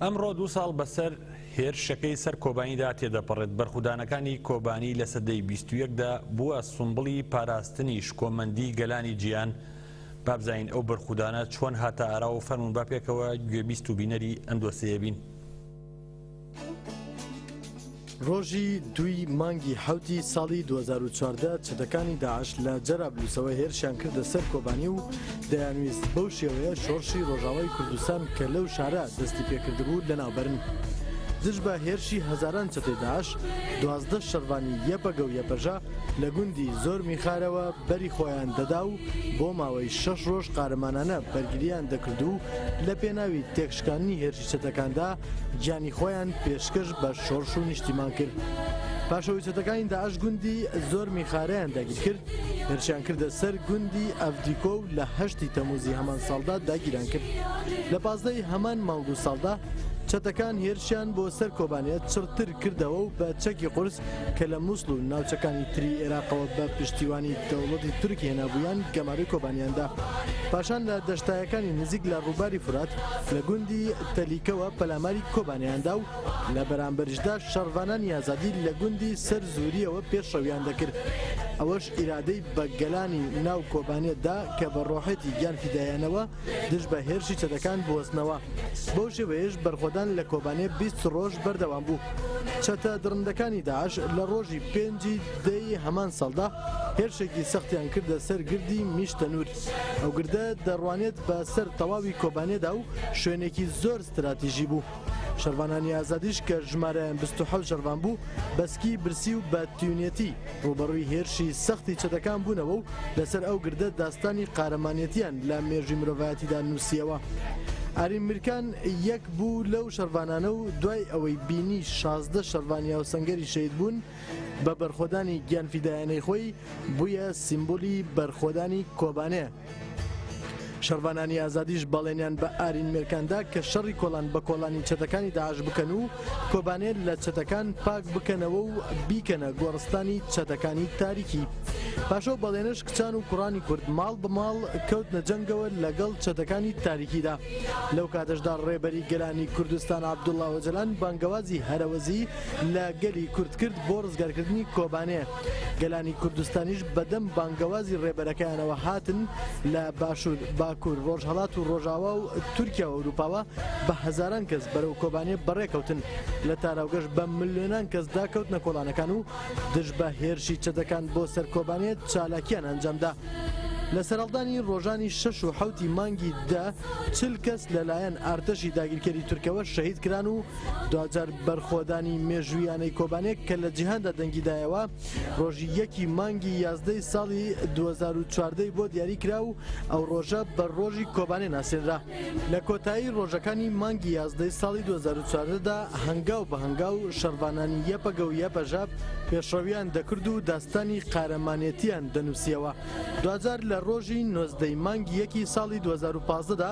ئەمڕۆ دوو ساڵ بەسەر هێرشەکەی سەر کۆبانیدا تێدەپەڕێت بەرخودانەکانی کۆبانی لە سەدەی 21دا بووە سومبڵی پاراستنی شکۆمەندی گەلانی جیهان بابزانین ئەو بەرخودانە چۆن هاتە ئاراوە فەرمون با پێکەوە گوێبیست و بینەری ئەم دۆسێیەبین. ڕۆژی دووی مانگی حوتی ساڵی 2014 چەتەکانی داعش لە جەرابلووسەوە هێرشیان کردە سەر کۆبانی و دەیانویست بەو شێوەیە شۆڕشی ڕۆژاوای کوردستان کە لەو شارە دەستی پێکردبوو لەناوبرن. دژ بە هێرشی هەزاران چەتەی داعش دوازدە شەڕڤانی یەپەگە و یەپەژە لە گوندی زۆر میخارەوە بەری خۆیان دەدا و بۆ ماوەی شەش ڕۆژ قارەمانانە بەرگرییان دەکرد و لە پێناوی تێکش شکاندنی هێرشی چەتەکاندا گیانی خۆیان پێشکەش بە شۆرش و نیشتیمان کرد پاشەوەی چەتەکانی داعش گوندی زۆر میخارەیان داگیر کرد هێرشیان کردە سەر گوندی ئەفدیکۆ و لە هەشتی تەموزی هەمان ساڵدا داگیران کرد لە پازدەی هەمان مانگ و ساڵدا چەتەکان هێرشیان بۆ سەر کۆبانێت چڕتر کردەوە و بە چەکی قورس کە لە موسڵ و ناوچەکانی تری ئێراقەوە بە پشتیوانی دەوڵەتی تورک هێنابوویان گەمارۆی کۆبانیان دا. پاشان لە دەشتایەکانی نزیک لە ڕووباری فورات لە گوندی تەلیکەوە پەلاماری کۆبانێیان دا و لە بەرامبەریشدا شەڕڤانانی ئازادی لە گوندی سەر زوورییەوە پێشڕەویان دەکرد. ئەوەش ئیرادەی بە گەلانی ناو کۆبانێ دا کە بە ڕۆحێتی گیان فیدایانەوە دژ بە هێرشی چەتەکان بوەستنەوە، بەو شێوەیەش بەرخۆدان لە کۆبانێ بیست ڕۆژ بەردەوام بوو. چەتە دڕندەکانی داعش لە ڕۆژی پێنج ی دە ی هەمان ساڵدا هێرشێکی سەختیان کردە سەر گردی میش تەنوور، ئەو گردە دەڕوانێت بە سەر تەواوی کۆبانێدا و شوێنێکی زۆر ستراتیژی بوو. شەڕڤانانی ئازادیش کە ژمارەیان بیست و حەوت شەڕڤان بوو، بە سکی برسی و بە تیونێتی، ڕووبەڕووی هێرشی سەختی چەتەکان بوونەوە و لەسەر ئەو گردە داستانی قارەمانێتییان لە مێژووی مرۆڤایەتیدا نووسییەوە. ئارین میرکان یەک بوو لەو شەڕڤانانە و دوای ئەوەی بینی شازدە شەڕڤانی هاوسەنگەری شەهید بوون بە بەرخۆدانی گیانفیدایانەی خۆی، بوویە سیمبولی بەرخۆدانی کۆبانێ. شەڕڤانانی ئازادیش بەڵێنیان بە ئارین مێرکان دا کە شەڕی کۆڵان بە کۆڵانی چەتەکانی داعش بکەن و کۆبانێ لە چەتەکان پاک بکەنەوە و بیکەنە گۆڕستانی چەتەکانی تاریکی پاشەو بەڵێنش کچان و کوڕانی کورد ماڵ بە ماڵ کەوتنە جەنگەوە لەگەڵ چەتەکانی تاریکیدا لەو کاتەشدا ڕێبەری گەلانی کوردستان عەبدوڵڵا ئۆجەلان بانگەوازی هەرەوەزی لە گەلی کورد کرد بۆ ڕزگارکردنی کۆبانێ گەلانی کوردستانیش بەدەم بانگەوازی ڕێبەرەکەیانەوە هاتن لە باشوور، باکوور، ڕۆژهەڵات و ڕۆژاوا و تورکیا و ئەوروپاوە بە هەزاران کەس بەرەو کۆبانێ بەڕێکەوتن، لە تاراوگەش بە ملیۆنان کەسدا کەوتنە کۆڵانەکان و دژ بە هێرشی چەتەکان بۆ سەر کۆبانێ چالاکییان ئەنجامدا. لە سەرهەڵدانی ڕۆژانی شەش و حەوتی مانگی دە، چل کەس لەلایەن ئارتەشی داگیرکەری تورکەوە شەهید کران و دواجار بەرخۆدانی مێژوویانەی کۆبانێ کە لە جیهاندا دەنگی دایەوە ڕۆژی یەکی مانگی یازدەی ساڵی 2014 بۆ دیاری کرا و ئەو ڕۆژە بە ڕۆژی کۆبانێ ناسێنرا لە کۆتایی ڕۆژەکانی مانگی یازدەی ساڵی 2014دا هەنگاو بە هەنگاو شەڕڤانانی یەپەگە و یەپەژە پێشڕەویان دەکرد و داستانی قارەمانێتیان دەنووسیەوە. دواجار لە ڕۆژی نۆزدە ی مانگی یەکی ساڵی دوو هەزار و پازدە دا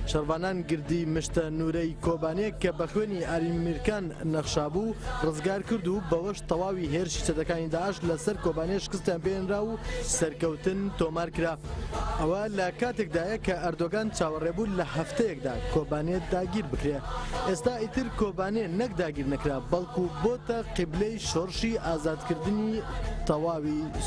شەڕڤانان گردی مشتە نوورە ی کۆبانێ کە بە خوێنی ئارین میرکان نەخشابوو ڕزگار کرد و بەوەش تەواوی هێرشی چەتەکانی داعش لە سەر کۆبانێ شکستیان پێ هێنرا و سەرکەوتن تۆمار کرا ئەوە لە کاتێک دایە کە ئەردۆگان چاوەڕێ بوو لە هەفتەیەک دا کۆبانێ داگیر بکرێ ئێستا ئیتر کۆبانێ نەک داگیر نەکرا بەڵکوو بۆتە قیبلەی شۆڕشی ئازاد کردنی تەواوی